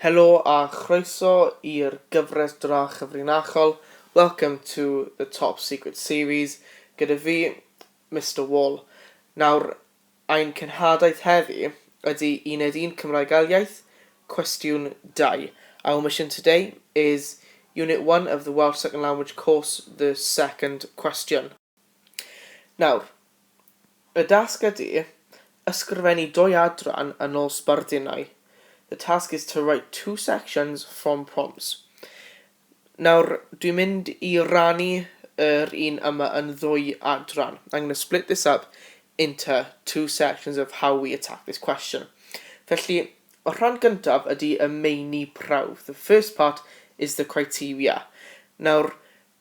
Helo a chroeso i'r gyfres dra chyfrinachol Welcome to the Top Secret Series gyda fi, Mister Wall. Nawr, ein cenhadaeth heddi ydi Uned Un Cymraeg Ail Iaith, Cwestiwn 2. Our mission today is Unit One of the Welsh Second Language course, the second question. Nawr, y dasg ydy ysgrifennu dwy adran yn ôl sbardunnau. The task is to write two sections from prompts. Nawr, dwi'n mynd i rannu yr un yma yn ddwy adran. I'm going to split this up into two sections of how we attack this question. Felly, y rhan gyntaf ydy y meini prawf. The first part is the criteria. Nawr,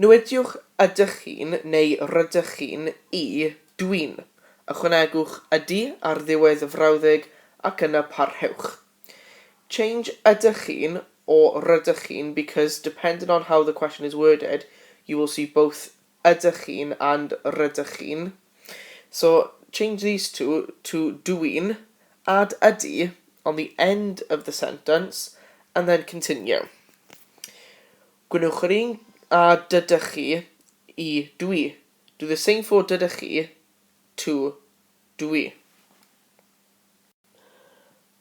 Nodiwch ydych chi'n neu rydych chi'n i, dwi'n. Ychwanegwch ydy ar ddiwedd y frawddeg ac yna parhewch. Change ydych chi'n o rydych chi'n because depending on how the question is worded you will see both ydych chi'n and rydych chi'n. So, change these two to dw i'n, add ydy on the end of the sentence and then continue. Gwnewch yr un â dydych chi i dw i. Do the same for dydych chi to dw i.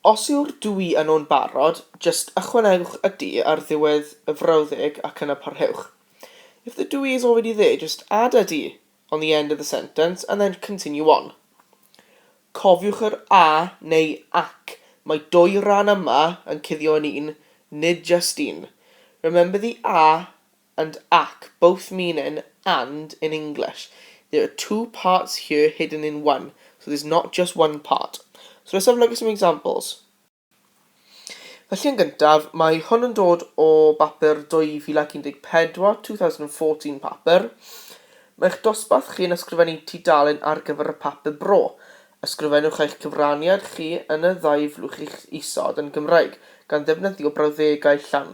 Os yw'r dwy yno'n barod, jyst ychwanegwch y du ar ddiwedd y frawddeg ac yna parhewch. If the dwy is already there, just add a du on the end of the sentence and then continue on. Cofiwch yr a neu ac, mae dwy ran yma yn cuddio yn un, nid jyst un. Remember the a and ac both mean an and in English, there are two parts here hidden in one, so there's not just one part. So let's have a look at some examples. Felly yn gyntaf, mae hwn yn dod o bapur 2014, 2014 papur. Mae'ch dosbarth chi yn ysgrifennu tudalen ar gyfer y papur bro. Ysgrifennwch eich cyfraniad chi yn y ddau flwch isod yn Gymraeg, gan ddefnyddio brawddegau llawn.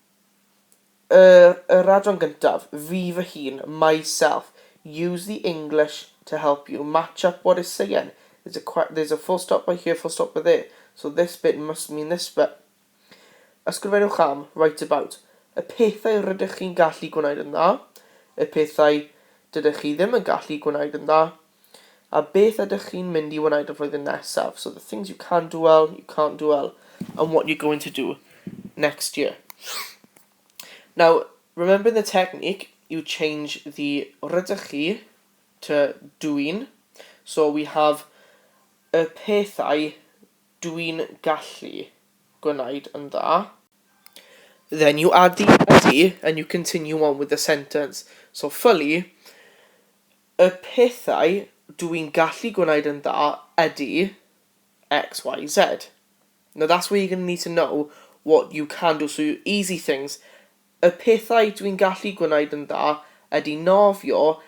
Yr yr adran gyntaf, fi fy hun, myself, use the English to help you match up what it's saying, there's a que- there's a full stop by here, full stop by there, so this bit must mean this bit. Ysgrifennwch am, write about, y pethau rydych chi'n gallu gwneud yn dda, y pethau dydych chi ddim yn gallu gwneud yn dda, A beth ydych chi'n mynd i wneud y flwyddyn nesaf? So the things you can do well, you can't do well, and what you're going to do next year. Now, remembering the technique, you change the rydych chi to dwi'n. So we have y pethau dwi'n gallu gwneud yn dda. Then you add the ydy and you continue on with the sentence. So fully, Y pethau dw i'n gallu gwneud yn dda ydy X, Y, Z. Now that's where you're going to need to know what you can do, so your easy things. Y pethau dw i'n gallu gwneud yn dda ydy nofio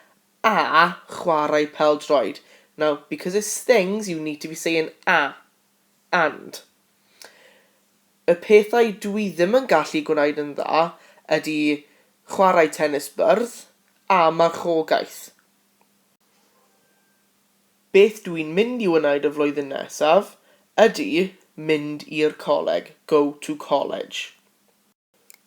a chwarae pel-droed. Now, because it's things, you need to be saying a And. Y pethau dwi ddim yn gallu gwneud yn dda ydy chwarae tenis byrdd a marchogaeth. Beth dwi'n mynd i wneud y flwyddyn nesaf ydy mynd i'r coleg, go to college.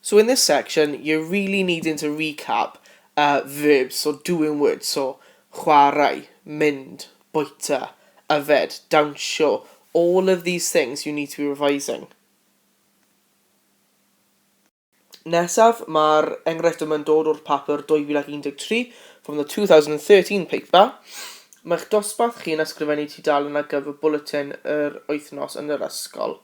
So in this section you're really needing to recap uh, verbs, so doing words, so chwarae, mynd, bwyta, yfed, dawnsio, all of these things you need to be revising. Nesaf, mae'r enghraifft yma'n dod o'r papur 2013, from the 2013 paper. Mae'ch dosbarth chi'n ysgrifennu tudalen ar gyfer bwletin yr wythnos yn yr ysgol.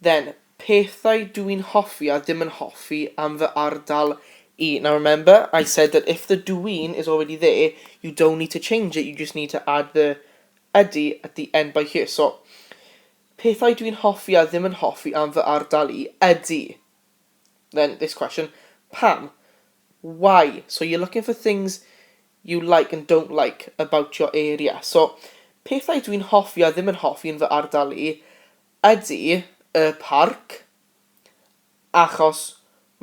Then, pethau dw i'n hoffi a ddim yn hoffi am fy ardal i. Now remember, I said that if the dw i'n is already there, you don't need to change it, you just need to add the ydy at the end by here. So, pethau dw i'n hoffi a ddim yn hoffi am fy ardal i ydy. Then, this question, pam? Why? So, you're looking for things you like and don't like about your area. So, pethau dw i'n hoffi a ddim yn hoffi yn fy ardal i Ydy, y parc, achos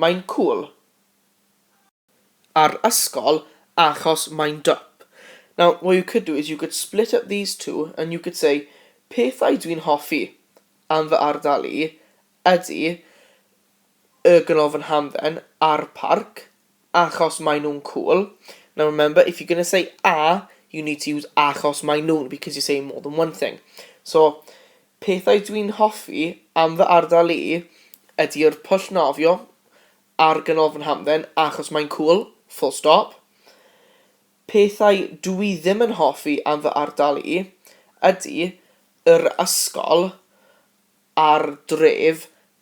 mae'n cwl. A'r ysgol, achos mae'n dwp. Now, what you could do is you could split up these two and you could say, pethau dwi'n hoffi am fy ardal i ydy y Ganolfan Hamdden a'r Parc, achos maen nhw'n cŵl. Now remember, if you're going to say a, you need to use achos maen nhw'n, because you're saying more than one thing. So, pethau dwi'n hoffi am fy ardal i ydy'r pwll nofio a'r Ganolfan Hamdden achos maen cŵl, full stop. Pethau dw i ddim yn hoffi am fy ardal i ydy yr ysgol a'r dref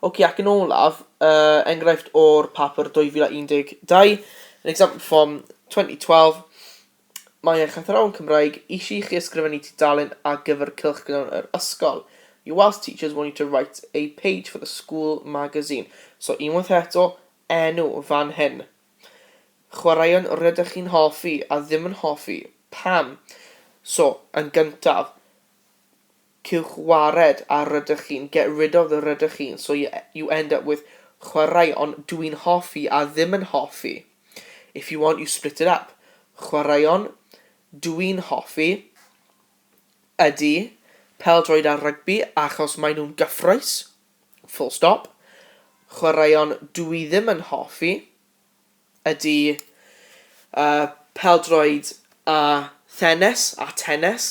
Oce, ac yn olaf, uh, enghraifft o'r papur 2012, an example from 2012, mae eich athrawon Cymraeg eisiau chi ysgrifennu tudalen ar gyfer cylch gyda'n yr ysgol. Your Welsh teachers want you to write a page for the school magazine. So, unwaith eto, enw fan hyn. Chwaraeon rydych chi'n hoffi a ddim yn hoffi. Pam? So, yn gyntaf, Cewch wared ar rydych chi'n get rid of the rydych chi'n so you you end up with chwarae on dwi'n hoffi a ddim yn hoffi If you want you split it up chwaraeon dwi'n hoffi ydy pêl-droed a rygbi achos maen nhw'n gyffrous full stop chwaraeon dw i ddim yn hoffi ydy uh, pêl-droed a thenis a tennis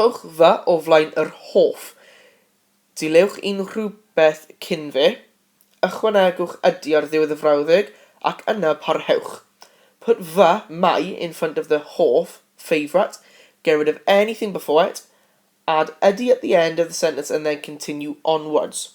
Rhowch fy o flaen yr hoff. Dilewch unrhyw beth cyn fe. Ychwanegwch ydy ar ddiwedd y frawddeg ac yna parhewch. Put fy, my, in front of the hoff, favourite, get rid of anything before it, add ydy at the end of the sentence and then continue onwards.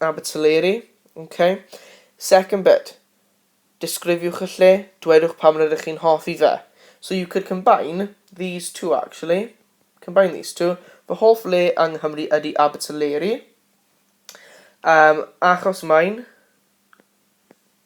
Abertyleri, ok. Second bit. Disgrifiwch y lle, dwedwch pam rydych chi'n hoffi fe. So you could combine these two actually. Combine these two. Fy hoff le yng Nghymru ydy Abertyleri. Um, achos mae'n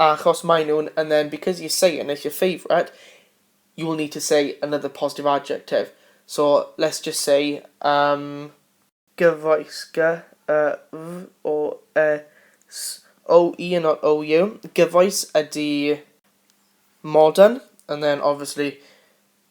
Achos maen nhw'n and then because you're saying it's your favourite you will need to say another positive adjective so let's just say um gyfoes gy y f o e s o u and not o u gyfoes ydy modern and then obviously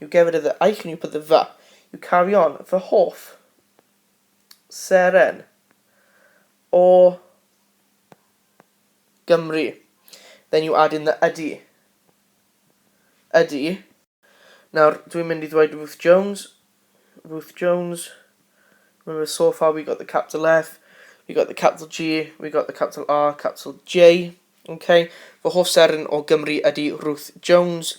You get rid of the ike and you put the fy. You carry on, fy hoff seren o Gymru. Then you add in the ydy. Ydy. Nawr, dwi'n mynd i ddweud Ruth Jones. Ruth Jones. Remember, so far we got the capital F, we got the capital G, we got the capital R, capital J. Okay. Fy hoff seren o Gymru ydy Ruth Jones.